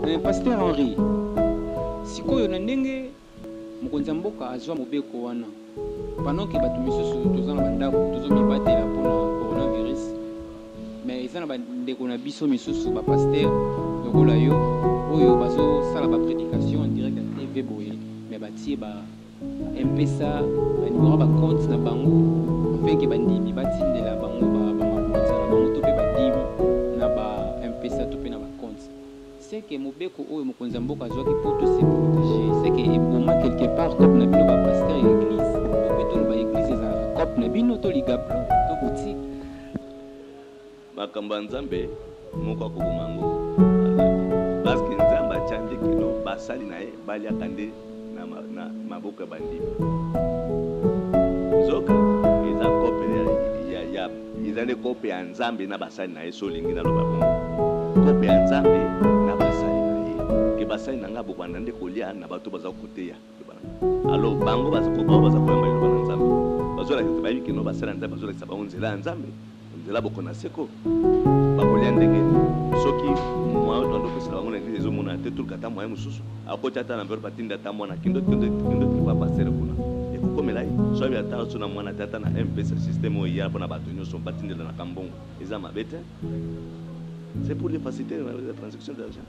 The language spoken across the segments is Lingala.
Eh, Pasteur Henri, sikoyo na ndenge mokonzi ya mboka azwa mobeko wana pendant ke bato misusu toza na bandako tozomibatela mpo na coronavirus mais eza na bandeko na biso misusu bapaster lokola yo oyo bazosala baprédication en direct ya tv boye mais batie ba Mpesa ba numero ba compte na bango afin que bandimi batindela bango ba ba mabonza na bango to pe ba dimi na ba Mpesa to pe na ba compte. C'est que mobeko oyo mokonzi ya mboka azwaki po to se proteger c'est que eboma quelque part coop na bino ba pasteur ya eglise to pe toloba eglise ezalaka coop na bino to ligablo to boutique? Makambo ya Nzambe, moko akoboma yango. Parce que Nzambe atya nde kino basali na ye balyaka nde na maboko ya bandimi. Nzoka eza kope ya eza nde kope ya Nzambe na basali na ye, so olingi naloba bongo. Kope ya Nzambe na basali na ye, ke basali na ngai bokobanda nde kolya na bato baza koteya. Alors bango baza koba baza koyamba liloba na Nzambe. Bazolakisa te bayebi kino basala Nzambe bazolakisa bango nzela ya Nzambe. Nzela boko na seko. Bakolia ndenge nini? Soki moyen oyo andopesela bango na eglise ezomona te turka ata moyen mosusu akoti ata na enveloppe atindi ata mwana kendo kendo kendo tripa pasere kuna ekokomela ye so abi ata so na mwana te ata na mpesa système oyo eya mpona bato nyonso batindelanaka mbongo eza mabe te c'est pour les faciliter la transaction d'argent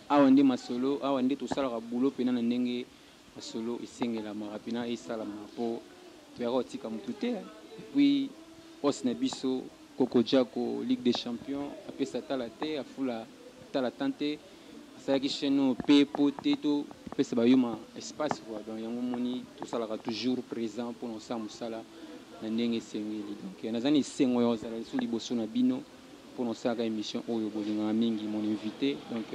Awa nde masolo, awa nde tosalaka boulot pena na ndenge masolo esengelamaka pena esalamaka po toyaka kotika mutu te epuis os na biso koko jako ligue des champions apesa tala te afula tala temps te asalaki chaine oyo pe po te to pesa ba yuma espace quoi donc yango omoni tosalaka toujours present pona kosala musala na ndenge esengeli donc naza na esengo ya kozala lisusu liboso na bino. pona osalaka emission oyo bolingaka mingi mon invite donc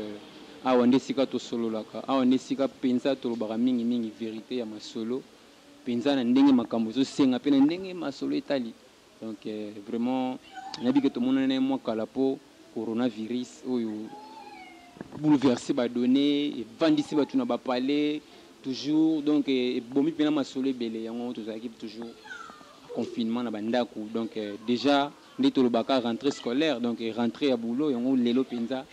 awa nde esika tosololaka awa nde esika penza tolobaka mingi mingi verite ya masolo penza na ndenge makambo ezosenga pe na ndenge masolo etali donc vraiment nayebi ke tomonani naye mua kala po coronavirus oyo bouleverse ba donne evandisi batu na ba palais toujours donc ebomi pena masolo ebele yango tozalaki toujours confinement na ba ndaku donc dejà nde tolobaka rentree scolaire donc rentree ya boulot yango lelo mpenza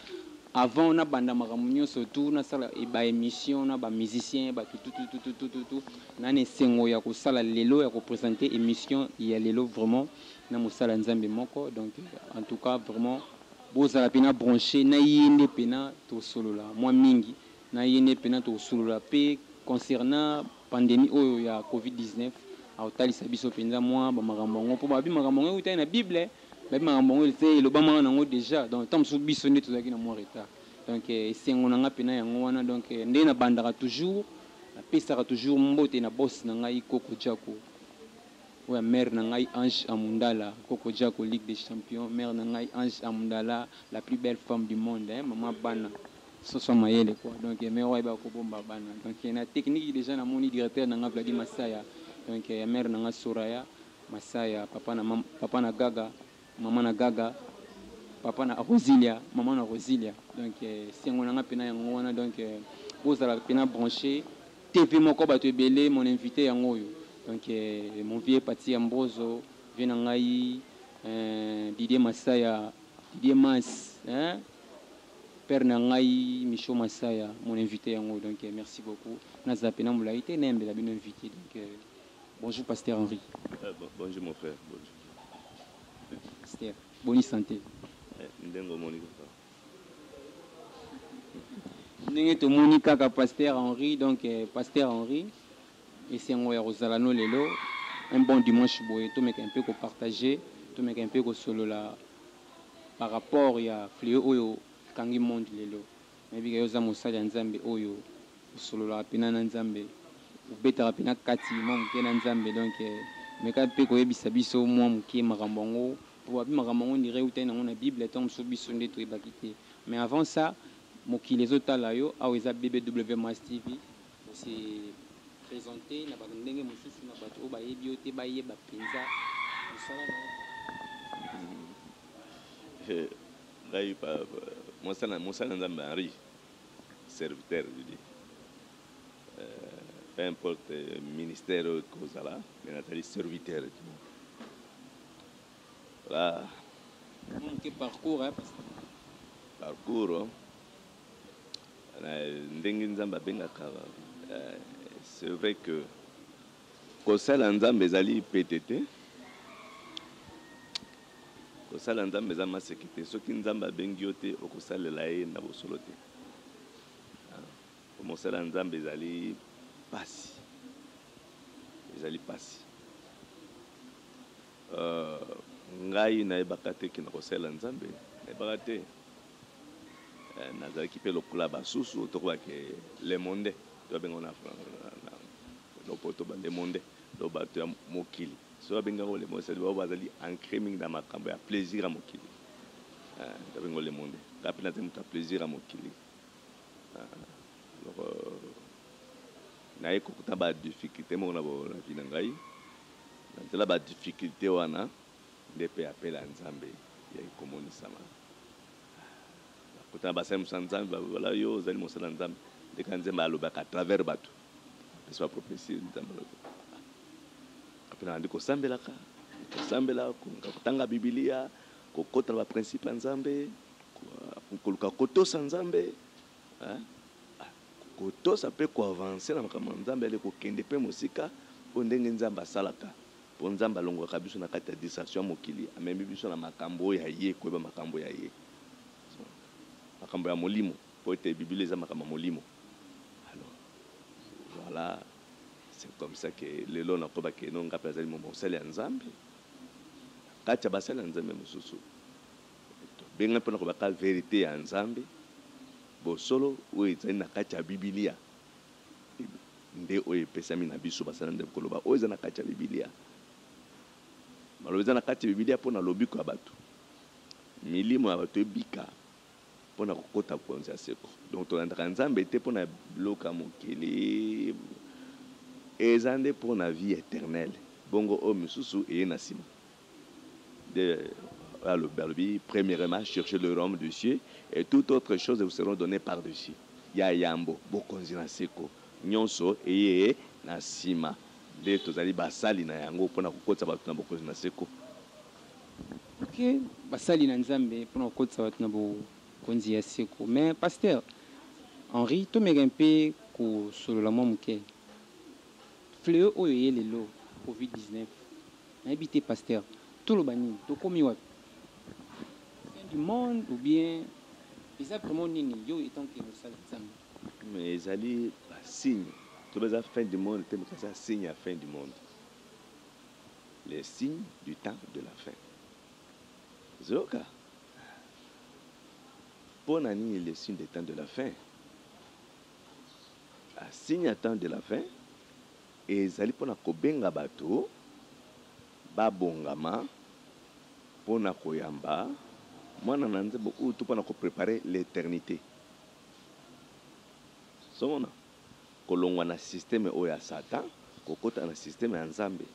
avant nabanda makambo nyonso tu nasala ba emission na ba musicien bato tutututututu na na esengo ya kosala lelo ya kopresente emission ya lelo vraiment na mosala ya nzambe moko donc en tout cas vraiment bozala mpena branche na ye nde mpena tosolola mwa mingi Na yende pena tokosolola pe concernant pandemie oyo ya covid 19, akotalisa biso penza mua ba makambo yango po babi makambo yango ewutaki na bible, babi makambo yango ete elobamaka nango dejà donc tango mosusu biso nde tozalaki na mua retard donc esengo na nga pena yango wana donc nde na bandaka toujours na pesaka toujours mbote na boss na ngai Koko Jacko oyo ya mère na ngai Ange Amundala Koko Jacko Ligue des Champions mère na ngai Ange Amundala la plus belle femme du monde hein maman bana Soso mayele quoi donc mère oyo ayeba kobomba bana donc na technique dejà namoni directeur na nga Vladi Masaya donc ya mère na nga Soraya Masaya papa na mam- papa na Gaga maman na Gaga papa na Rosilia maman na Rosilia donc eh, sengo na nga pena yango wana donc eh, bozala pena branche TV moko bato ebele mon invité yango oyo donc eh, mon vieux Pati ya Mbozo vieux na ngai eh, Didier Masaya Didier Mas hein Père na ngai Michaux Masaya mon invite yango donc merci beaucoup naza pena mulayi te nayembela bino invite donc bonjour pasteur Henri. Bonjour mon frère bonjour. Pasteur boni sante. Ndenge omoni kaka. Ndenge tomoni kaka pasteur Henri donc pasteur Henri esengo ya kozala no lelo un bon dimanche boye tomeka un peu ko partager tomeka un peu kosolola. par rapport ya fleo oyo ekangi monde lelo nayebike yo oza mosali ya nzambe oyo osololaka pena na nzambe obetaka pena kati mua muke na nzambe donc meka pe koyebisa biso mua muke makambo yango po babi makambo yango ondire ewutaki nango na bible tango mosusu biso nde toyebaki te mais avant ça mokili ezotala yo awa eza BBWMAS TV. Ko se presenter na ba ndenge mosusu na batu oyo bayebi yo te bayeba penza musala na yo. Ngai mosana mosali na Nzambe Henri serviteur de Dieu peu importe ministère oyo ekozala mais nazali serviteur voilà. Mwa moke parcours hein. Parcours. Ndenge Nzambe abengaka c'est vrai que kosala Nzambe ezali pete te kosala Nzambe eza maseki te soki Nzambe abengi yo te okosalela ye na bosolo te mosala Nzambe ezali pasi ezali pasi euh, ngai nayebaka te ke nakosalela Nzambe nayebaka te Nazalaki pe lokola basusu, tokoba ke le monde, to abenga ngo na lopoto ba le monde, to batu ya mokili. Soki abengi yango le monde, c'est à dire ba oyo bazali ancre mingi na makambo ya plaisir ya mokili. To abengi ngo le monde. Nga pe nazali mutu ya plaisir ya mokili. Eloko naye kokutana ba difficultes moko na vie na ngai. Na nzela ba difficultes wana. nde mpe apela ya Nzambe eyaki komonisama. Bakota na basali mosusu ya Nzambe balobi, Wala yo ozali mosali na Nzambe. Nde kaka Nzambe alobaka à travers bato, apesi ba prophetie. Nzambe alobi après nabandi kosambelaka, kosambela, koluka kotanga Biblia, kokota na ba principe ya Nzambe, koluka kotosa Nzambe, kotosa mpe ko avancer na makambo ya Nzambe, kokende mpe mosika, oyo ndenge Nzambe asalaka. Mpo Nzambe alongolaka biso na kati ya distraction ya mokili, amemi biso na makambo oyo ya Ye, koyeba makambo ya Ye, makambo ya molimo, mpo ete Biblia eza makambo ya molimo. Alors, voilà, c'est comme ça que lelo nakoba que non, nga mpe nazali mosali ya Nzambe, na kati ya basali ya Nzambe mosusu. Tobengami mpo na kobaka verite ya Nzambe, bosolo oyo ezali na kati ya Biblia. nde oyo epesami na biso basali nde koloba oyo eza na kati ya bibilia maloba eza na kati ya bibilia mpo na lobiko ya bato milimo ya bato ebika mpo na kokota bokonzi ya seko donc tolandaka nzambe te mpo na biloko ya mokili eza nde mpo na vie eternele bongo oyo mosusu eye na nsima de alobi alobi premierement chercher le royaume de Dieu et toute autre chose vous seront donner par dessus ya yambo bokonzi na seko nionso eye na sima nde tozali basali na yango pona kokotisa batu na bokonzi na seko. Ok basali na nzambe pona kokotisa batu na bokonzi ya seko mais pasteur Henri tomeka mpe kosolola mwa moke fleo oyo eye lelo covid 19 Nayebi te pasteur toloba nini tokomi wapi fin du monde ou bien eza vraiment nini yo etant que mosali nzambe. Mais ezali ba signe toloba eza fin du monde te mais eza signe ya fin du monde le signe du temps de la fin zoka pona nini le signe de temps de la fin ba signe ya temps de la fin Ezali mpo na kobenga bato babongama mpo na koyamba Mwana na Nzambe oyo to mpo na ko preparer l'eternite. Ozo mona? Kolongwa na systeme oyo ya Satan kokota na systeme ya Nzambe.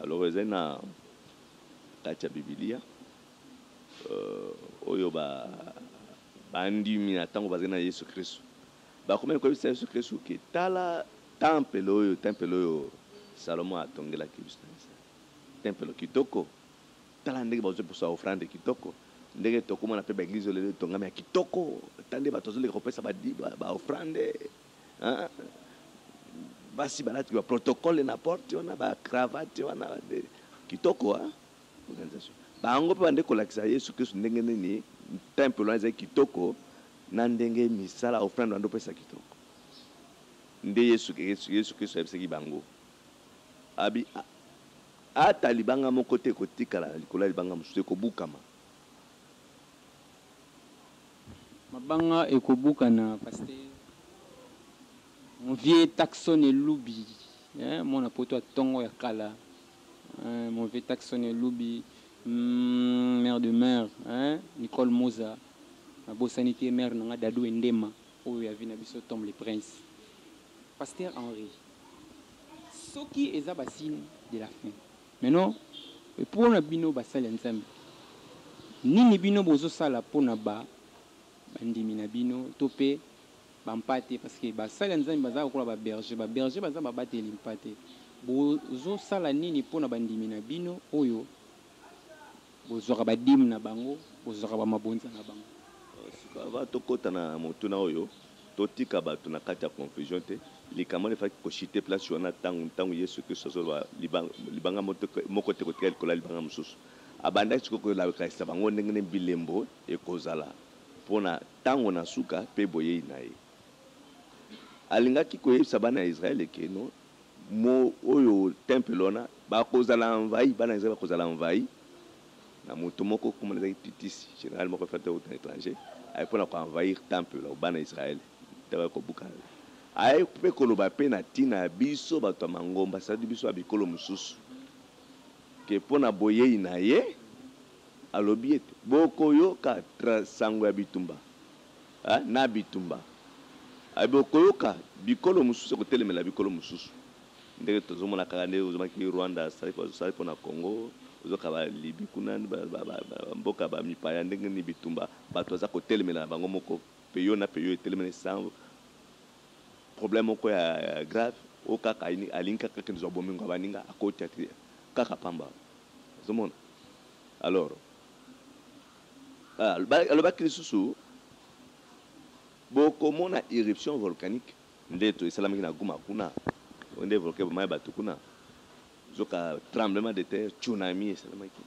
Alors ezali na kati ya Bibilia oyo ba bandimi na tango bazali na Yesu Kristu. Bakomaki koyebisa Yesu Kristu ke, Tala tempelo oyo, tempelo oyo Salomon atongelaki biso na Israel. Tempelo kitoko. Tala ndenge bazwi poso ya ofrande kitoko. Ndenge tokomona pe ba eglise oyo lelo etongami ya kitoko. Tala ndenge bato bazoleka kopesa ba di, ba, ba ofrande. Hein? Basi balati ba protocole na porte wana, ba cravate wana, de, kitoko, hein? Organisation. Bango pe bande kolakisa Yesu Kristu ndenge nini tempelo wana ezali kitoko, Na ndenge misala, ofrande bande opesa kitoko nde Yesu Kristu, Yesu Kristu ayebisaki bango, abi, a, Ata libanga moko te ekotikala na likolo ya libanga mosusu, ekobukama. Mabanga ekobukana pasteur. Mon vieux Taxon Elubi eh, mwana poto ya tongo ya kala. Eeh mauvais taxon ya elubi humm mère de mère eeh Nicole Muza na bosani te mère na nga Dadou Endema oyo ya vie na biso Tom le prince Pasteur Henri soki eza ba signe de la fin mais non pona bino ba sali ya Nzambe nini bino bozo sala pona ba ba ndimi na bino to pe ba mpate parce que ba sali ya nzambe baza lokola ba berger ba berger baza ba bateli mpate bozo sala nini pona ba ndimi na bino oyo bozwaka ba dime na bango bozwaka ba mabonza na bango. Sikoyo avant tokota na motuna oyo, totika bato na kati ya confusion te. Likambo wana efalaki ko chuter place wana tango ntango Yesu Kristu azoloba libanga moko te ekotikala likolo ya libanga mosusu. Abandaki sikoyo kolakisa bango ndenge nini bilembo ekozala. Mpo na ntango na suka mpe boyei na ye. Alingaki koyebisa bana ya Israël que no mo oyo temple wana bakozala envahi, bana ya Israël bakozala envahi na moto moko kombo na ye ezalaki Titus, general moko efandaki kutu na etranger, ayaki mpo na ko envahir temple ya bana ya Israël mpe bayaki kobuka yango. Ayaki mpe koloba mpe na ntina ya biso bato ya mangomba, c'est-à-dire biso ya bikolo mosusu, que mpo na boyei na ye, Alobi ete, Bokoyoka nsango ya bitumba na bitumba. Bokoyoka bikolo mosusu ekotelemela bikolo mosusu. Ndenge tozomona kaka nde ozomaki Rwanda asali mpo na Congo, ozoyoka ba Libye kuna, ba mboka ba mipaya ndenge nini bitumba, bato baza kotelemela na bango moko, peyo na peyo etelemeli sans problème moko ya grave, oyo kaka alingi kaka akende kozwa bomengo ya baninga, akoti kaka pamba. Ozo mona? Alors, ba, alobaki lisusu, Bokomona eruption volcanique. Nde to, esalamaki na Guma kuna. Oyo nde volcan ebomaki batu kuna. Nzoka tremblement de terre, tsunami esalamaki.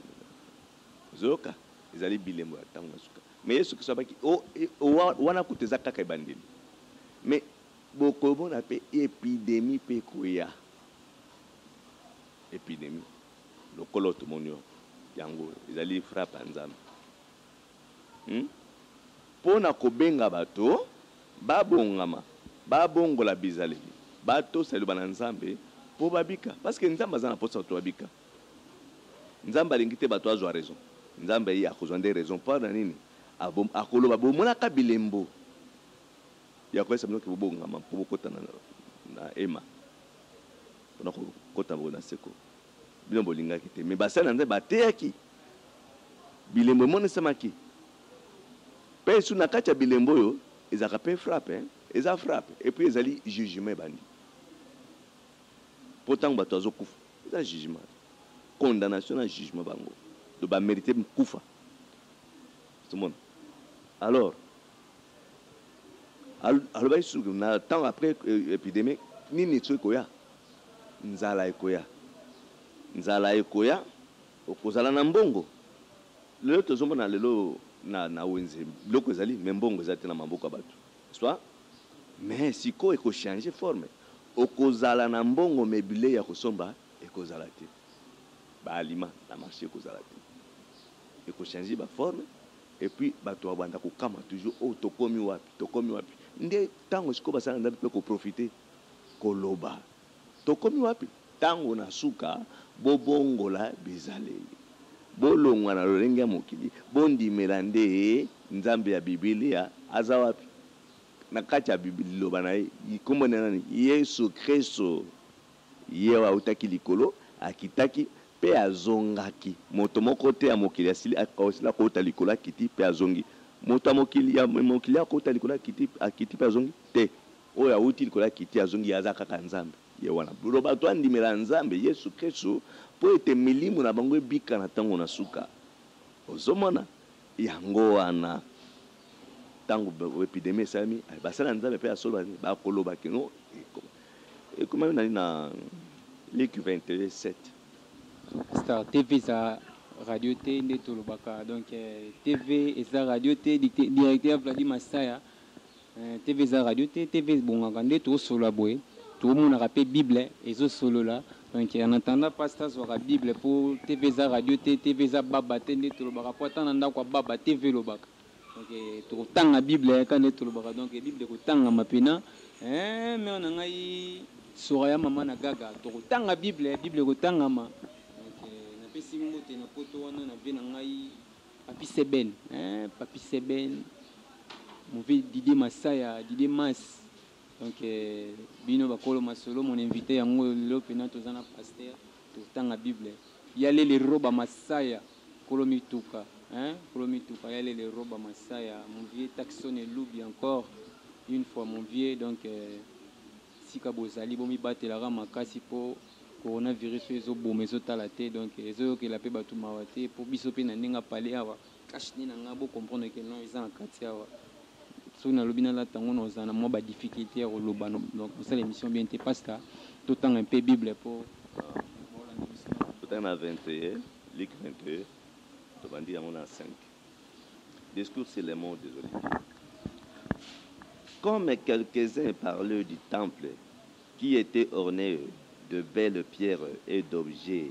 Ozoyoka? Ezali bilembo ya tango na suka. Mais Yesu Kristo alobaki, O, e, o, wa, wana kutu eza kaka ebandeli. Mais bokomona pe epidemie pe ekoya. Epidemie lokola oyo tomoni oyo yango ezali frappe ya Nzambe hum pona kobenga bato babongama babongola bizaleli batosa liloba na Nzambe po babika parce que Nzambe aza na posa bato babika Nzambe alingi te bato azwa raison Nzambe ye akozwa nde raison po na nini akoloba bomonaka bilembo ya koyesa bino ke bobongama po bokota na hema. Pona ko kota boye na seko. Bino bo lingaki te mais basali na Nzambe ba teyaki. Bilembo e monisamaki. Pe lisusu na kati ya bilembo oyo ezalaka pe frappe hein. Eza frappe et puis ezali jugement ebandi. Po tangu batu bazo kufa eza jugement. Condamnation na jugement bango donc ba merite kufa. Ozo mona? Alors. Alobaki lisusu na ntango après epidemie nini lisusu ekoya? Nzala ekoya, nzala ekoya, okozala na mbongo. Lelo tozomona lelo na wenze biloko ezali mais mbongo eza te na maboko ya bato n'est-ce pas? Mais sikoyo eko changer forme, okozala na mbongo mais bilei ya kosomba ekozala te, ba aliments na marche ekozala te, eko changer ba formes. Et puis batu ba banda ko kamwa toujours oh tokomi wapi tokomi wapi nde tango sikoyo basali na nzambe pe ko profiter ko loba tokomi wapi tango na suka bo bongola bizaleli bo longwa na lolenge ya mokili bo ndimela nde nzambe ya bibilia aza wapi na kati ya liloba na ye kombo na ye nani yesu christo. Ye oyo autaki likolo akitaki mpe azongaki. Moto moko te ya mokili asili asila kouta likolo akiti mpe azongi. Moto ya mokili ya mokili oyo akouta likolo akiti akiti mpe azongi? Te. Oyo auti likolo akiti azongi, ye aza kaka Nzambe. Ye wana. Blo bato andimela Nzambe, Yesu Kristu, mpo ete milimo na bango ebika na ntango na suka. Ozo mona? Yango wana, ntango epidemie esalemi, basali na Nzambe mpe ya solo ba, bakoloba kino ekoma. Ekomami na nini na Luc 22, 7? Star TV eza radio te nde tolobaka donc TV eza radio te directeur Vladi Masaya TV eza radio te TV ebongaka nde tosolola boye tomonaka mpe bible ezosolola donc en attendant pasta azwaka bible mpo TV eza radio te TV eza baba te nde tolobaka mpo ata na ndako ya baba TV elobaka donc tokotanga bible eh, kaka nde tolobaka donc bible ekotangama mpena eh, mere na ngai sora ya mama na gaga tokotanga bible eh, bible ekotangama donc napesi mbote na poto wana na vie na ngai papi seben eh, papi seben move dide masaya dide mas donc bino bakolo masolo mon invité yango lelo mpena toza na paster Tozotanga bible ya lele roba masaya kolo mituka hein kolo mituka ya lele roba masaya mon vieux taxon elubi encore une fois mon vieux donc esika bozali bomibatelaka makasi po coronavirus oyo ezoboma ezotala te donc ezoyokela pe batu mawa te po biso pe na ndenge ya palais awa Cash nde na nga bo comprendre que non eza na kati awa soki na lobi na lata yango na ozana mwa ba difficulté ya koloba donc kosala emission bien te pasta to tanga un peu bible po Totanga na 21 Luc 21 tobandi yango na 5 discours sur les morts des oliviers comme quelques uns parlent du temple qui etait orne de belles pierres et d'objets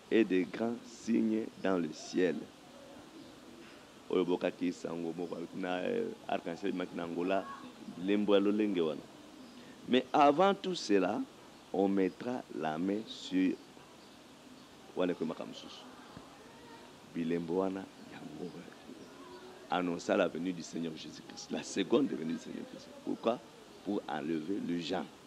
et des grands signes dans le ciel oyo bokaki sango moko alobi na arc en ciel ebimaki na Angola bilembo ya lolenge wana mais avant tout cela on mettra la main sur wana ekomi makambo mosusu bilembo wana yango annonça la venue du Seigneur Jesus-Christ la seconde venue du Seigneur Jesus pourquoi pour enlever le gens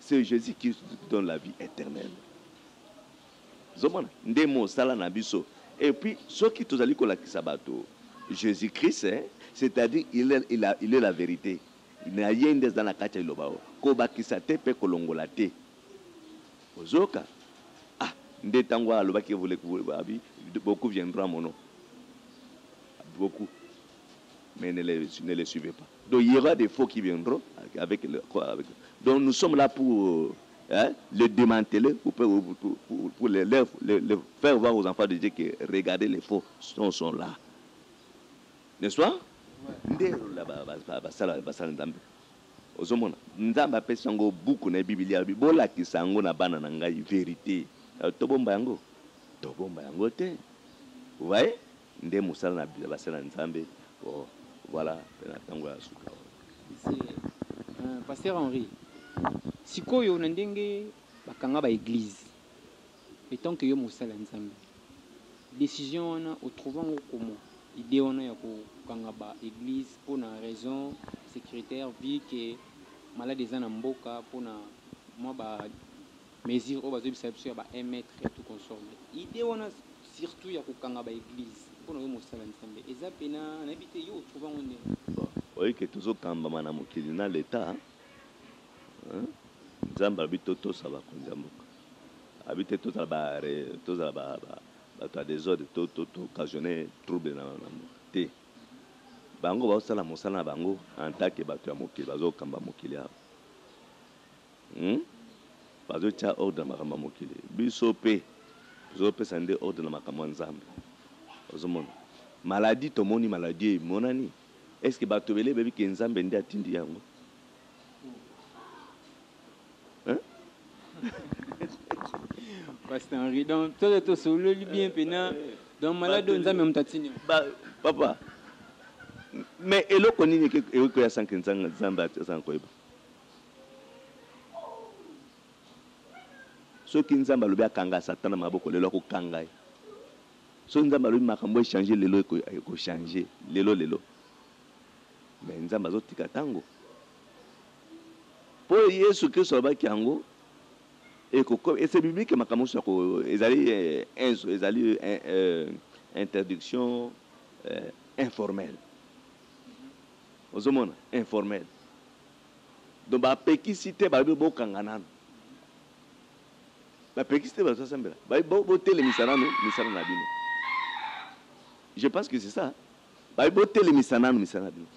Ce Jesus Christ qui donne la vie eternelle ozomona nde mosala na biso et puis soki tozali kolakisa bato Jesus Christ c'est à dire il est, il a, il est la verite na ye nde aza na kati ya liloba oyo kobakisa te mpe kolongola te ozoyoka ah nde ntango alobaki abi beaucoup viendra mono beaucoup mais ne les, ne les suivez pas Donc il y'aura des faux qui viendront avec le quoi avec donc nous sommes là pour hein, le démanteler pour, pour, pour, pour, pour le, le, le, le faire voir aux enfants de Dieu que regardez les faux sont, sont là n'est-ce pas nde la ba- ba- ba- basala basala nzambe ozomona nzambe apesi yango buku na ye bibilia alobi bolakisa yango na bana na ngai verité Alors, tobomba yango tobomba yango te vous voyez Nde mosala na ya basali na Nzambe oh, voilà pe na tango ya suka oh. Euh, Pasteur Henri, sikoyo na ndenge bakanga ba eglise etant que yo mosala ya Nzambe décision wana otrouva ngo comment idée wana ya kokanga ba église mpo na raison sécuritaire vu que malade eza na mboka mpo na mwa ba Mesure oyo bazo yebisa biso ya ba un mètre et tout consort mais idee wana surtout ya kokanga ba eglises pona yo mosala nzambe eza pena nayebi te yo o trouva ngo ndenge. Bon oyebi que tozo kambama na mokili na l'etat hein nzambe alobi to tosa bakonzi ya mboka alobi te tozala ba tozala ba batu ya desordre to to occasionne trouble na na mboka te bango bazo sala mosala na bango en tant que batu ya mokili bazo kamba mokili awa Hum bazo tia ordre na makambo ya mokili biso pe tozo pesa nde ordre na makambo ya nzambe ozo mona maladie tomoni maladie emonani est ce que batu ebele bayebi ke nzambe nde atindi yango Pasteur Henri donc tozo to sololi bien pena donc malade oyo nzambe mutu atindi yango ba papa mais eloko nini eke ekoya sans ke nzambe aza na koyeba Soki nzambe alobi akanga satan na maboko lelo ako kanga ye soki nzambe alobi makambo echange lelo eko change lelo lelo mais nzambe azo tika tango po yesu kristo alobaki yango ekoko ese biblique makambo nyonso yako ezali enzo eh, ezali eh, eh, interdiction eh, informelle ozomona informelle Donc ba pekisi te balobi bo kanga nanu ba pekisi te bazo sambela ba bo bo telemisa nanu misala na bino je pense que c'est ça ba bo telemisa nanu misala na bino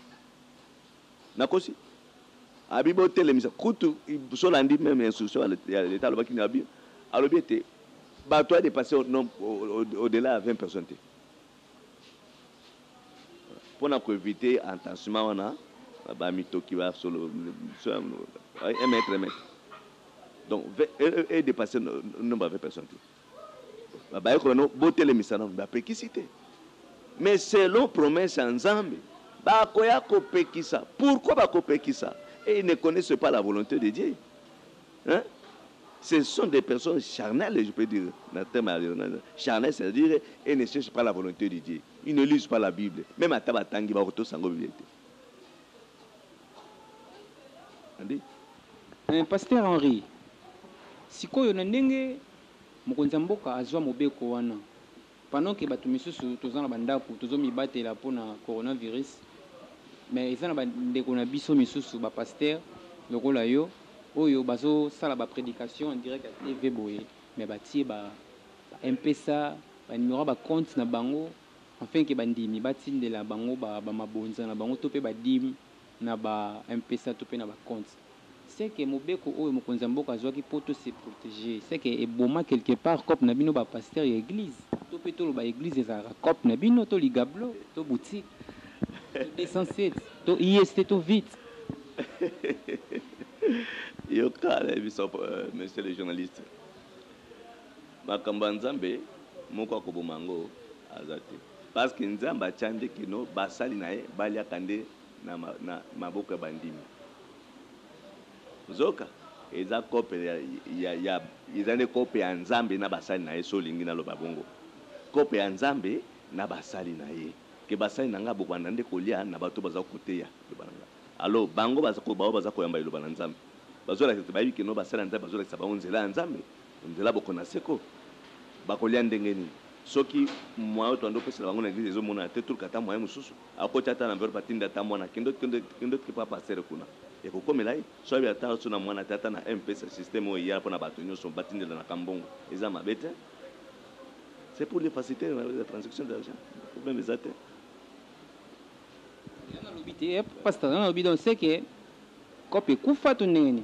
na kosi abi bo telemisa kutu sola ndi meme instruction ya l'etat alobaki na bi alobi ete bato a depasser au, au, au, au delà ya 20 personnes te Pona ko eviter entensement wana ba mitoki ba solo un mètre un mètre donc e depasser nombre ya 20 personnes te ba bayekola no botelemisa nanu ba pekisi te mais selon promesse ya nzambe bakoya kopekisa pourquoi bakopekisa et ils ne connaissent pas la volonte de Dieu. Hein ce sont des personnes charnelles je peux dire na terme ya lingala charnel c'est à dire et ne cherche pas la volonte de Dieu il ne lise pas la bible meme ata ba tangi ba ko tosa ngo bible te andi Eeh pasteur Henri, sikoyo na ndenge mokonzi ya mboka azua mobeko wana, Pendant que batu misusu toza na ba ndaku tozo mibatela pona coronavirus mais eza na ba ndeko na biso misusu ba pasteurs lokola yo oyo bazo sala ba predications en direct ya TV boye mais batie ba Mpesa ba numero ya ba comptes na bango afin que ba ndimi ba tindela bango ba mabonza na bango to pe ba dimes na ba mpesa to pe na ba compte ce que mobeko oyo mokonzi ya mboka azuaki po to se proteger ce que eboma quelque part coop na bino ba pasteur ya eglise to pe toloba eglise ezalaka coop na bino to ligablo to boutique to 207 to IST to vite. Yoka na yebisa monsieur le journaliste makambo ya nzambe moko akoboma yango aza te. Parce que Nzambe atia nde que no basali na ye baliaka nde na na maboko ya bandimi. Nzoka eza cope ya ya ya eza nde cope ya Nzambe na basali na ye soki olingi naloba bongo. Cope ya Nzambe na basali na ye. Que basali na nga bokobanda nde kolia na bato baza koteya liloba na nga. Alors bango baza ko baoyo baza koyamba liloba na Nzambe bazo lakisa te bayebi que no basali ya Nzambe bazo lakisa bango nzela ya Nzambe O nzela boko na seko. Bakolia ndenge nini soki moyen oyo toando pesa na bango na eglise ezo monana te toluka ata moyen mususu akoti ata na enveloppe atindi ata mwana kendo kendo kendo tiki papa pasteur kuna ekokomela ye soki ayebi ata so na mwana te ata na mpesa système oyo eyala pona batu nioso batindelanaka mbongo eza mabe te c'est pour les faciliter la transaction d'argent problème eza te Yango nalobi te eh, pasteur, yango nalobi donc seke coop ekufa to ndenge nini?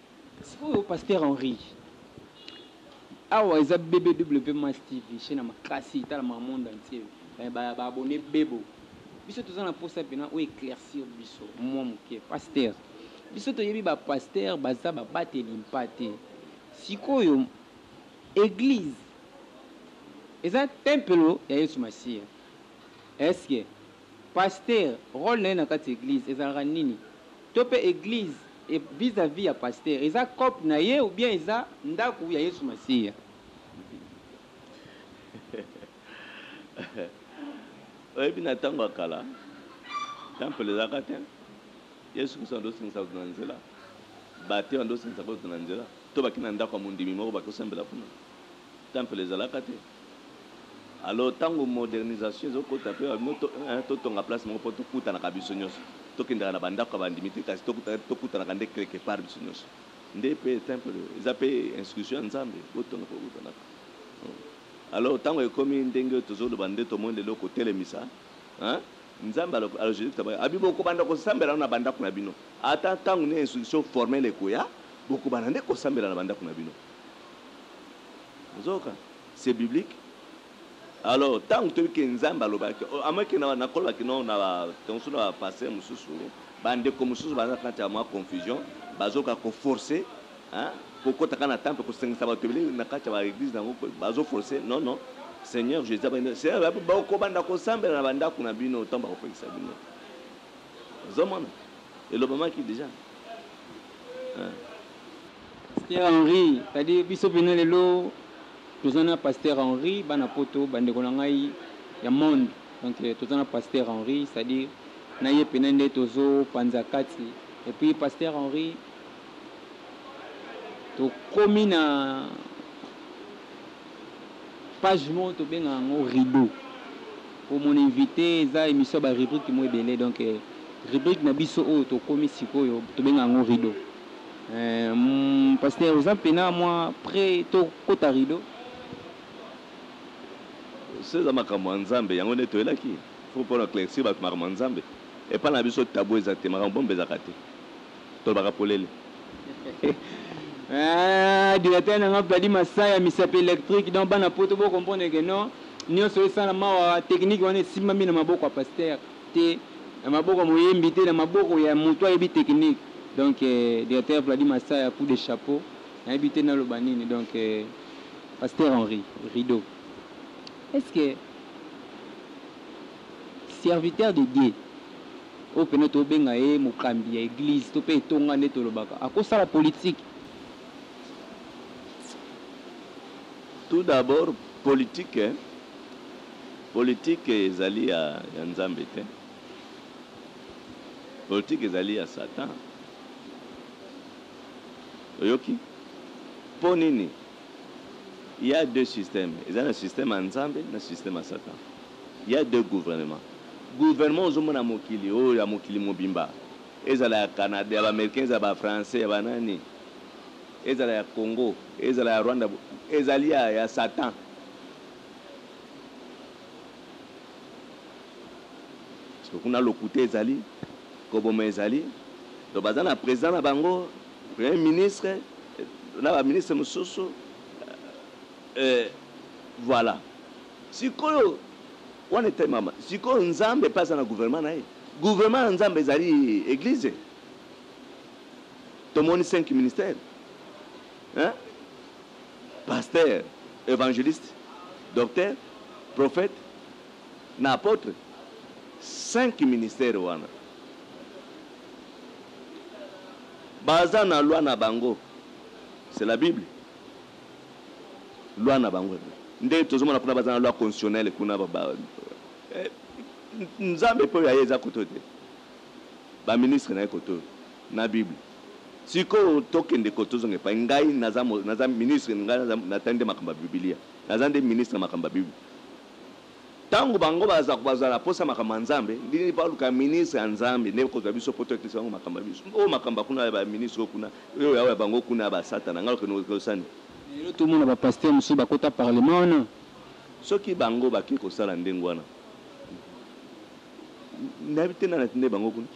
Sikoyo pasteur Henri awa eza BBW Mass TV chaine ya makasi etalama monde entier mais ba abonnes bebo biso toza na posa pena o eclaircir biso mua muke pasteur biso toyebi ba pasteur baza ba bateli mpate sikoyo eglise eza tempelo ya yesu masiya est ce que Pasteur role naye na kati ya eglise ezalaka nini? To pe eglise e vis à vis ya pasteur eza coop naye ou bien eza ndaku ya yesu masiya? Oyebi na tango ya kala temple ezalaka te yesu kristo ando singisa kutu na nzela batu ando singisa kutu na nzela to bake na ndaku ya mondimi moko bako sambela kuna. Temple ezalaka te alors tango modernisation ezo kota pe ba bino to eh to tonga place moko po to kutanaka biso nioso to kendaka na ba ndaku ya ba ndimi te kasi to kuta to kutanaka nde quelque part biso nioso nde pe temple eza pe instruction ya nzambe bo tonga po kutanaka alors tango ekomi ndenge oyo tozo loba nde tomoni lelo ko telemisa hein nzambe alors alors jesus christ abi bo ko banda ko sambela nanu na ba ndaku na bino ata tango nini instruction formelle ekoya boko banda nde ko sambela na ba ndaku na bino Nzoka c'est biblique alors tangu toyebi ke nzambe alobaki à moins ke nakolobaki non na ba tangu suna ba pasteur mususu ba ndeko mususu baza kati ya mwa confusion bazoka ko forcer hein kokota kaka na temple kosengisa bato ebele na kati ya ba eglise nango bazo forcer non non seigneur jesus abandi seigneur bakobanda kosambela na bandako na bino ntango bakopekisa bino ozomona elobamaki deja Pasteur Henri kadi biso pena lelo toza na pasteur Henri bana poto ba ndeko na ngai ya monde donc toza na pasteur Henri c'est à dire na ye pena nde tozo panza kati et puis pasteur Henri tokomi na Page moko tobenga yango rideau po mon invite eza emission ya ba rubrique moko ebele donc rubrique na biso oyo tokomi sikoyo tobenga yango rideau eeh pasteur oza pena mua pre to kota rideau? Soki eza makambo ya Nzambe yango nde toyelaki faut pona eclaircir batu makambo ya Nzambe epa na biso tabou eza te makambo bombe ezalaka te. Tolobaka polele Eeh directeur na nga Vladi Masaya misapi electrique donc bana poto bo comprendre que non nionso esalama awa technique wana esimbami na maboko ya pasteur te na maboko ya moyembi te na maboko ya mutu ayebi technique donc directeur Vladi Masaya coup de chapeau nayebi te naloba nini donc pasteur Henri rideau est ce que serviteur de Dieu Oyo pena tobenga ye mokambi ya eglise to pe etonga nde tolobaka ako sala politique? Tout d'abord politique politique ezali ya ya nzambe te politique ezali ya satan oyoki po nini Il y'a deux systèmes eza na système ya nzambe na système ya satan il y'a deux gouvernement gouvernement ozo mona ya mokili oyo ya mokili mobimba ezala ya canada ya ba americain ezala ba français ya ba nani ezala ya congo ezala ya rwanda ezali ya ya satan parce que kuna lokuta ezali koboma ezali donc baza na president na bango Premier ministre na ba ministre mususu euh voila sikoyo wana etelemama sikoyo nzambe pe aza na gouvernement na ye gouvernement ya nzambe ezali eglise tomoni cinq ministère hein pasteur evangeliste docteur prophète Na apotre cinq ministère wana baza na loi na bango c'est la bible loi na bango nde tozo mona kuna baza na loi constitutionnelle kuna ba nzambe pe oyo aye eza koto te ba ministre naye koto na bible sikoyo tokende koto tozonga epai ngai naza naza ministre ngai naza natali nde makambo ya bibilia naza nde ministre ya makambo ya bible Tango bango baza kozala na posa ya makambo ya Nzambe, ndenge baluka ya ministre ya Nzambe nde kozwa biso poto ya kisa bango makambo ya biso. Oyo makambo ya kuna ya ba ministre oyo kuna, oyo ya oyo ya bango kuna ya ba satana nga lokeno ekosani. Lelo to mona ba pasteur mosusu ba kota parlement wana. Soki bango ba ke kosala ndenge wana, nayebi te nani atindaki bango kuna.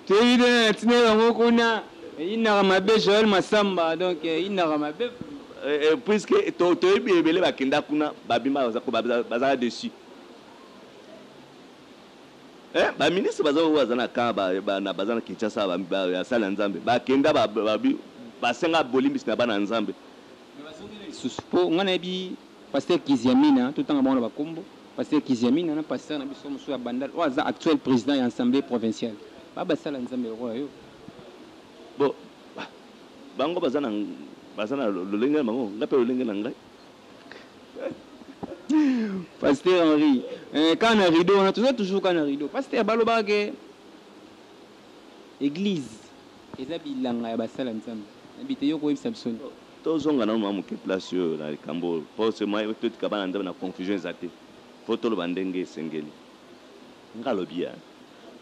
Toyebi bien na tina yango kuna inaka mabe Joël Massamba donc inaka mabe. Puisque toyebi ebele bakenda kuna babima bazaka dessus eh ba ministre baza oyo baza na camp baza na Kinshasa ya sali ya Nzambe bakenda basenga bolimbisi na bana Nzambe. Lisusu po nga nayebi pasteur Kiziamina totanga bango na bakombo. Pasteur kiziamina na pasteur na biso mususu ya bandal oyo aza actuel president ya assemblee provincial ba basala nzambe lokola yo. Bo bango baza na baza na lolenge na bango nga pe lolenge na ngai. Pasteur Henri eh, kaka na rideau wana toza toujours kaka na rideau. Pasteur balobaka ke eglise Eza bilanga ya ba sala nzambe na bite yo koyebisa biso nde. Tozonga nanu mua muke place oyo na likambo oyo po ce moyen totika bana nzambe na confusion eza te faut toloba ndenge esengeli nga lobi ya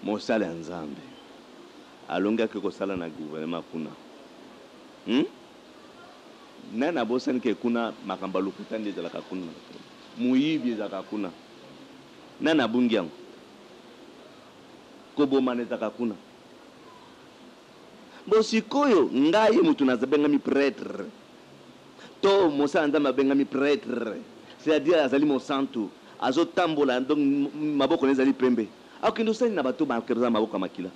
mosali ya nzambe alongi ake kosala na gouvernement kuna hum mais na bosani ke kuna makambo ya lokuta nde ezalaka kuna moyibi ezalaka kuna nani abungi yango kobomana ezalaka kuna Bo sikoyo ngai mutu naza bengami pretre to mosali ya nzambe abengami pretre c'est à dire azali mosantu azo tambola donc maboko naye ezali pembe akokende kosala nini na bato oyo baza na maboko ya makila?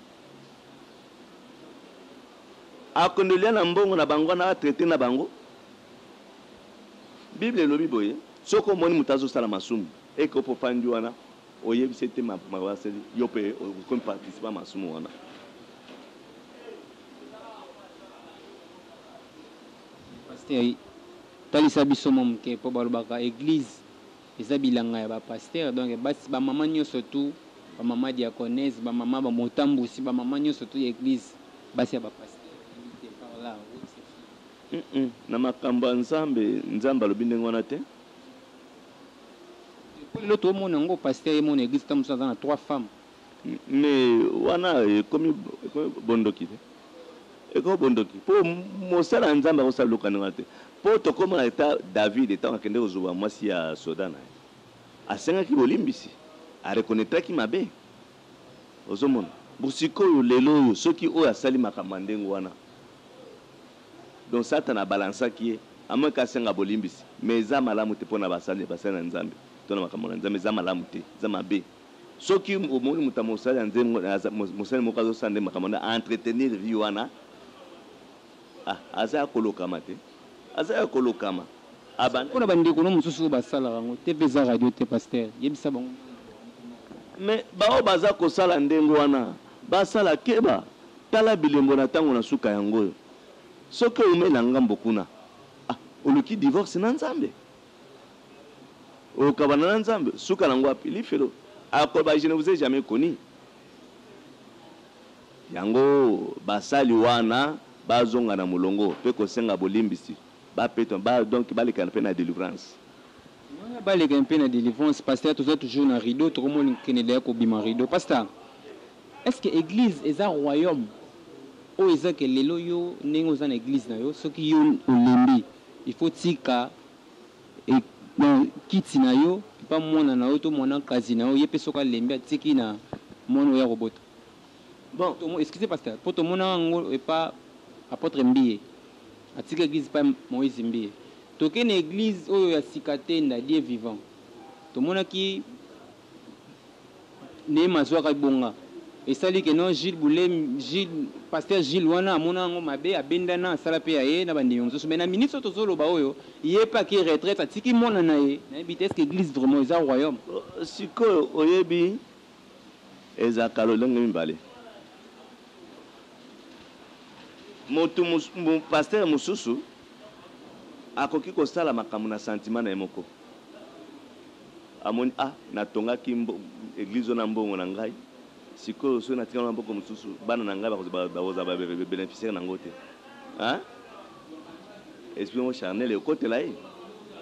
Akokende kolia na mbongo na bango wana ba traite na bango? Bible elobi boye soki omoni mutu azo sala masumu eke opo ofandi wana Oyebise te ma Marcel yo pe okomi participe ya masumu wana. Pasteur talisa biso mwa muke po balobaka eglise eza bilanga ya ba pasteur donc basi ba maman nioso tout ba maman diaconnes ba maman ba motambusi ba maman nioso tout ya eglise basi ya ba pasteur invite par là ou exception? Hum hum na makambo ya nzambe nzambe alobi ndenge wana te. Po lelo to mona yango pasteur ye moko na eglise tango mosusu aza na trois femmes. Mais wana ekomi bondoki te? Ekomi bondoki po mosali ya Nzambe akosala biloko ya ndenge wana te. Po tokoma na etat David tango akendeki kozuba mwasi ya soda na ye, asengaki bolimbisi, a reconnaitraki mabe. Ozo mona? Bon sikoyo lelo oyo soki oyo asali makambo ya ndenge wana. Donc satana a balansaki ye en moins que asenga bolimbisi mais eza malamu te pona basali basali na nzambe to na makambo na nzambe eza malamu te eza mabe soki omoni moto ya mosali ya nzembo aza mosali moko azosala nde makambo na a entretenir vie wana ah aza ya kolokama te aza ya kolokama abanda Pona ba ndeko no mosusu oyo basalaka yango te pe eza radio te pasteur yebisa bango ndenge ya kosala. Mais baoyo baza kosala ndenge wana basala keba. Tala bilembo na tango na suka yango oyo soki owumeli na ngambo kuna ah oluki divorce na nzambe okabana na nzambe suka nango wapi lifelo akoloba je ne vous ai jamais connu yango basali wana bazonga na molongo pe kosenga bolimbisi ba peton ba donc baleka na pe na delivrance. Wana baleka mpe na delivrance pasta toza toujours na rideau tokomo kende deya kobima rideau pasta. Est ce que eglise eza royaume? Oyo eza que lelo yo ndenge oza na eglise na yo soki yo olembi il faut otika kiti na yo epa mwana na yo to mwanakazi na yo ye pe soki alembi atiki na mwana oyo akobota bon tomo excuse pasteur po tomonaka yango epa apotre mbiye atiki eglise epa moise mbiye toke na eglise oyo ya sika te ndadie vivant tomonaki Neema azuaka ebonga esali que non Jules Bule Jules pasteur Jules wana amona yango mabe abendana asala pe ya ye na ba ndimi mosusu mais na minutes oyo tozo loba oyo ye pe akeyi retraite atiki mwana na ye nayebi te est ce que eglise vraiment eza royaume? Sikoyo oyebi ezalaka lolenge mibale mutu pasteur mosusu akoki kosala makambo na sentiment na ye moko. Amoni ah na tongaki eglise oyo na mbongo na ngai sikoyo soki na tika yango na maboko mosusu bana na ngai bakozala ba beneficiaire na yango te hein esprit moko charnel ekotela ye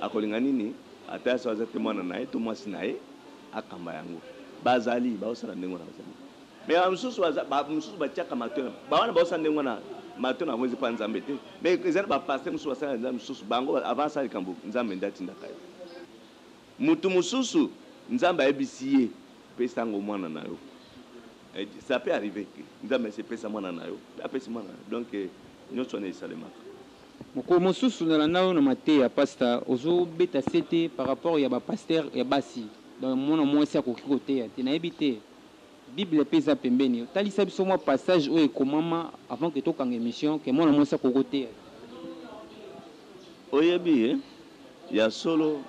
akolinga nini ata soki aza te mwana na ye to mwasi na ye akamba yango bazali baosala ndenge wana bazali mais ba mosusu baza ba mosusu batiaka matoi na ba wana baosala ndenge wana matoi na bango eza mpo ya nzambe te mais eza na ba pasteur mosusu basala nzambe mosusu bango avant asala likambo nzambe nde atindaka ye Mutu mususu nzambe ayebisi ye pesa ngo mwana na yo sa peut arriver que nzambe asi pesa mwana na yo pe apesi mwana na yo donc nionso wana esalemaka. Mokolo mosusu na landa yo na mateya pasta ozo beta sete par rapport ya ba pasteur ya basi donc mwana muasi akoki koteya te nayebi te. Bible pe eza pembeni yo talisa biso mwa passage oyo ekomama avant que tokanga emission que mwana mwasi akoki koteya te. Oyebi ye? Ya solo,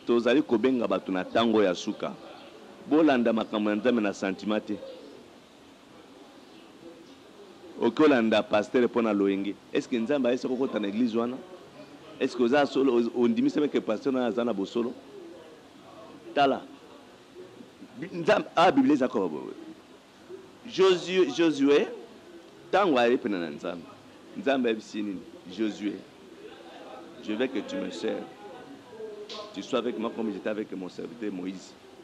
tozali kobenga bato na tango ya suka. Bolanda makambo ya Nzambe na sentiment te. Oke olanda pasteur pona loyenge est ce que nzambe aye soki okota na eglise wana est ce que oza solo ondimisami ke pasteur nayo aza na bosolo tala nzambe a biblia eza koba boye josue josue tango aye pene na nzambe nzambe ayebisi nini josue je veux que tu me sers tu sois avec moi comme j'étais avec mon serviteur moïse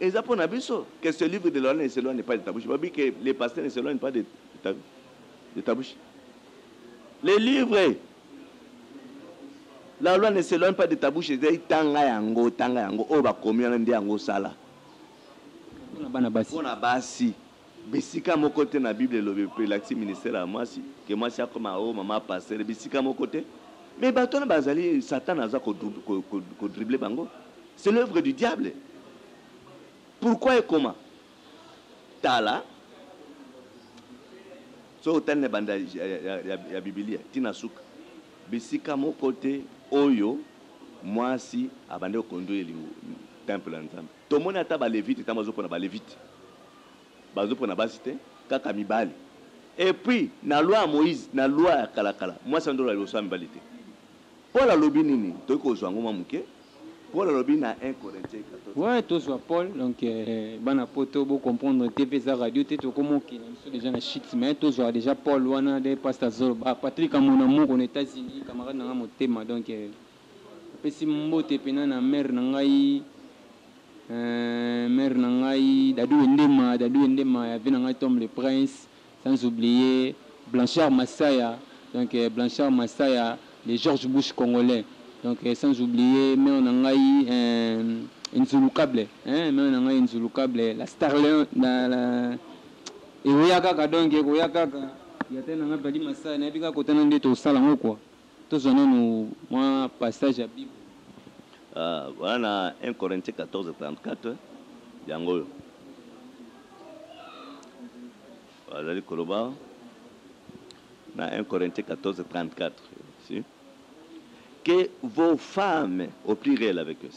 Eza pona biso que ce livre de loi ne s'eloigne pas de ta bouche. Balobi que le pasteur ne s'eloigne pas de ta, de ta bouche. Le livre la loi ne s'eloigne pas de ta bouche ezali tanga yango, tanga yango oyo bakomi wana nde yango osala. Pona bana basi. Pona basi. Bisika moko te na bible elobi pe elakisi ministere ya mwasi que mwasi akoma oh maman pasteur bisika moko te mais batu wana bazali satan aza ko drible bango c'est l'oeuvre du diable pourquoi ekoma tala soki otali na banda ya, ya, ya, ya bibilia ti na suka bisika moko te oyo mwasi abandi ko conduire temple ya nzambe tomoni ata balevite ntango bazopona balevite Bazopona basi te kaka mibali et puis na loi ya Moïse na loi ya kala kala mwasi andola liboso ya mibali te Paul alobi nini toki kozua yango mwa muke Paul alobi na 1 Corinthiens 14. Ouais tozua Paul donc bana poto bo comprendre te pe eza radio te tokoma okende na biso dejà na chute mais tozua dejà Paul wana de pasta azoloba Patrick amonamoko na Etats-Unis camarade na nga motema donc Napesi mbote pena na mère na ngai eeh mère na ngai Dadou Wendema, Dadou Wendema ya vie na ngai Tom le prince sans oublier Blanchard Masaya donc Blanchard Masaya le George Bush congolais donc sans oublier mère na ngai eeh Enzulukable eeh mère na ngai Enzulukable la starleon la la ekoya kaka donc ekoya kaka ya tata na ngai Padi Masaya nayebi kaka kotana nde tokosala yango quoi. Tozwa nanu mwa passage ya Bible. Ahh voilà na un Corinthiens 14 34 yango oyo bazali koloba awa na un Corinthiens 14 34 si que vos femmes au pluriel avec eux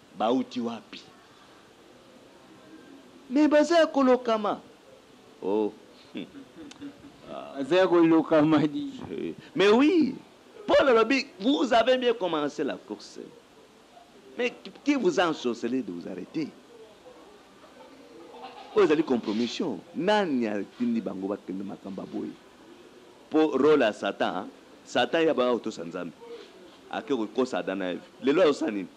Bawuti wapi? Mais baza ya kolokama oh hum ah. Baza ya kolokama di. Mais oui, Paul alobi vous avez bien commence la course mais qui vous a ensorcele de vous arreter? Oyo ezali compromission. Nani atindi bango bakende makambo ya boye? Po role ya Satan, Satan ye abanga kotosa Nzambe, ake kokosa Adam na Eve, lelo azosala nini?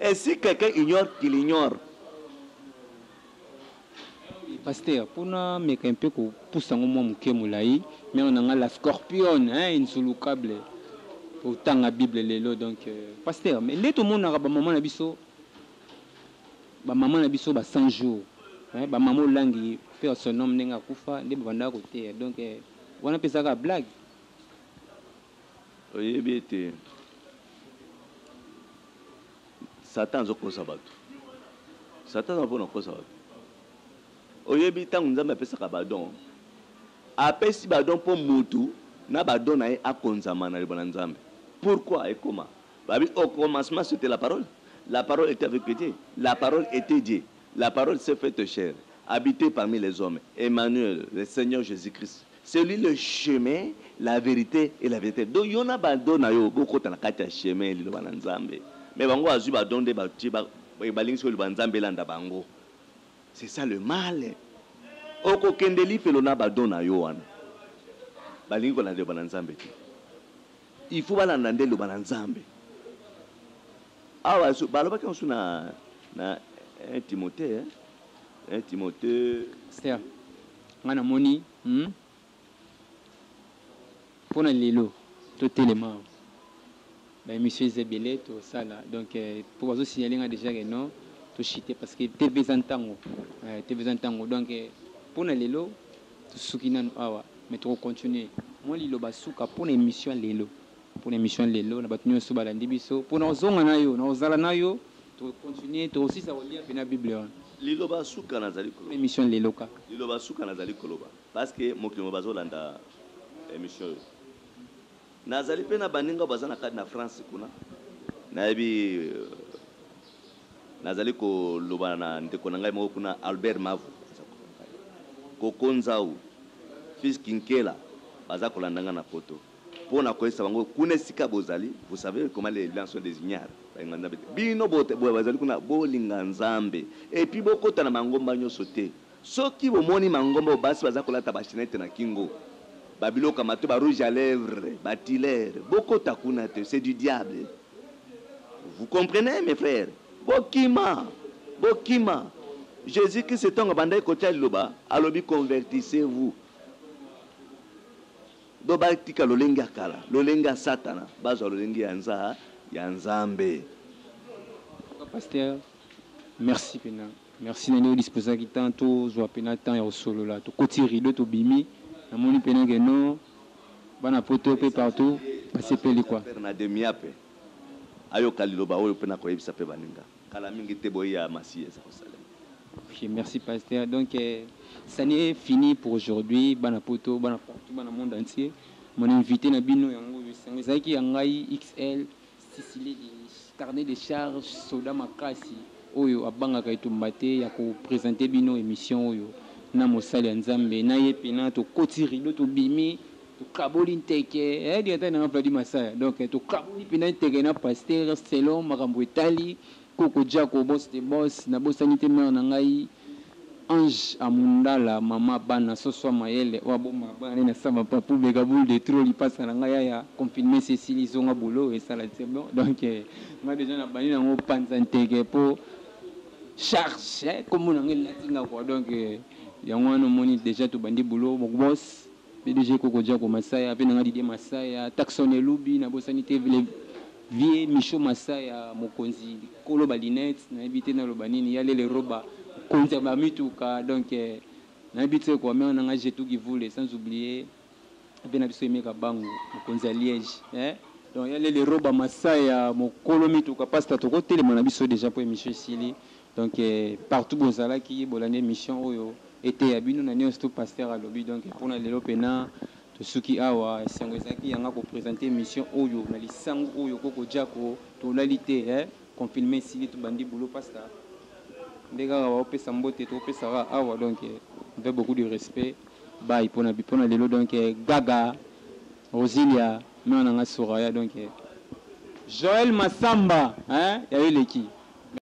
Et si quelqu'un ignore qu'il ignore. Pasteur po na meka un peu ko pusa yango mua muke mulayi mère na nga la scorpione hein insulucable o tanga bible lelo donc pasteur mais nde to monaka ba maman na biso ba maman na biso ba 100 jours hein ba maman olangi paix à son homme ndenge akufa nde ba bandaka ko teya donc wana pe eza kaka blague Oyebi ete Satan azo kosa batu. Satan aza pona kosa batu. Oyebi tango Nzambe apesaka ba don, apesi ba don po mutu na ba don na ye akonzama na liloba na Nzambe. Pourquoi ekoma? Babi au commencement c'etait la parole, la parole etait avec Dieu, la parole etait Dieu, la parole s'est faite chair, habite parmi les hommes, Emmanuel, le Seigneur Jesus-Christ. C'est lui le chemin, la verite et la verite donc yo na ba don na yo bo kota na kati ya chemin ya liloba na nzambe mais bango bazui ba don nde batie ba balingi soki liloba ya nzambe elanda bango c'est ça le mal oko kende lifelo na ba don na yo wana balingi kolanda liloba na nzambe te il faut balanda nde liloba na nzambe awa balobaki yango su na na 1 timote 1 timote Nga na moni hum pona lelo to telema awa ba emission eza ebele to sala donc po bazo signaler nga dejà que non to chute parce que TV eza ntango eh TV eza ntango donc pona lelo to suki nanu awa mais toko continuer. Mua liloba suka pona emission ya lelo. Pona emission lelo na batu nionso balandi biso pona ozonga nayo nako zala nayo toko continuer toko silisa kolia pena bible wana Liloba suka nazali pona koloba. emission lelo kaka. Liloba suka nazali koloba parce que mokili mobimba bazo landa emission oyo nazali pe na baninga oyo baza na kati na France kuna nayebi nazali koloba na ndeko na ngai moko kuna Albert Mavu aza kuna Koko Nzau fils Kinkela baza kolanda nga na poto. Mpo na koyebisa bango kuna esika bozali, vous savez comment les blancs sont des ignares, balinga Nzambe te, bino bo bazali kuna bolinga Nzambe et puis bokota na mangomba nyoso te, soki bomoni mangomba oyo basi baza kolata ba chenette na kingo, ba biloko ya matoyi, ba rouge à lèvres, ba tuiler, bokota kuna te, c'est du diable, vous comprenez mes frères? Bokima, bokima, Jesus Christ tango abandaki kotia liloba alobi convertissez-vous. Donc ba tika lolenge ya kala, lolenge ya satana ba zwa lolenge ya nza ya nzambe. En tout cas pasteur merci pena merci na ndenge o disposaki temps to zwa pena temps ya ko solola to koti rideau to bimi na moni pena que non bana poto pe partout ba sepeli quoi. Père na demiape ayoka liloba oyo pe nako yebisa pe baninga. Kala mingi te boye ya masiya eza kosalema. Ok merci pasteur donc cani est fini pour aujourd'hui bana poto bana partout bana monde entier mon invite na bino yango oyo esango ezalaki ya ngai XL sisile de carnet de charge soda makasi oyo abangaka etumba te ya ko presenter bino emission oyo na mosali ya nzambe na ye pena tokoti rideau tobimi Tokaboli nteke eh Diantai na nga Vladi Masaya Donc eh tokaboli mpenza nteke na pasteur Selon makambo etali Koko Jacko Boss de boss Nabosani te mère na ngai Ange Amundala Mama bana Soswa Mayele Oyo abomba bana ne na Samba Papou Beka Boule de trop Lipasa na nga Yaya Confinement esi esili Zonga boulot esala C'est bon Donc eh Nga dejà nabandi na ngo panza nteke mpo Charge eh Kombo na nga elati nga quoi Donc eh Yango wana omoni dejà tobandi boulot Boss Pdg koko jako masaya pe nanga didier masaya taxon elubi na bosani te le vieux micho masaya mokonzi kolo ba lunettes na yebi te na loba nini ya lele roba mokonzi ya ba mituka donc na yebi tse quoi mère nanga jetou givule sans oublier pe na biso aime kabangu mokonzi ya liege eh donc ya lele roba masaya mokolo mituka pasta toko telema na biso dejà po emission esili Donc partout bozalaki bolandi emission oyo eteya bino na nionso tout pasteur alobi donc pona lelo pena tosuki awa esengo ezalaki yanga ko presenter emission oyo na lisangu oyo koko jako tolali te eh confinement esili tobandi boulot pasta nde kaka bao pesa mbote to pesa kaka awa donc avec beaucoup de respect bye pona pona lelo donc gaga Rosilia mère nanga Soraya donc Joël Massamba eh yayo eleki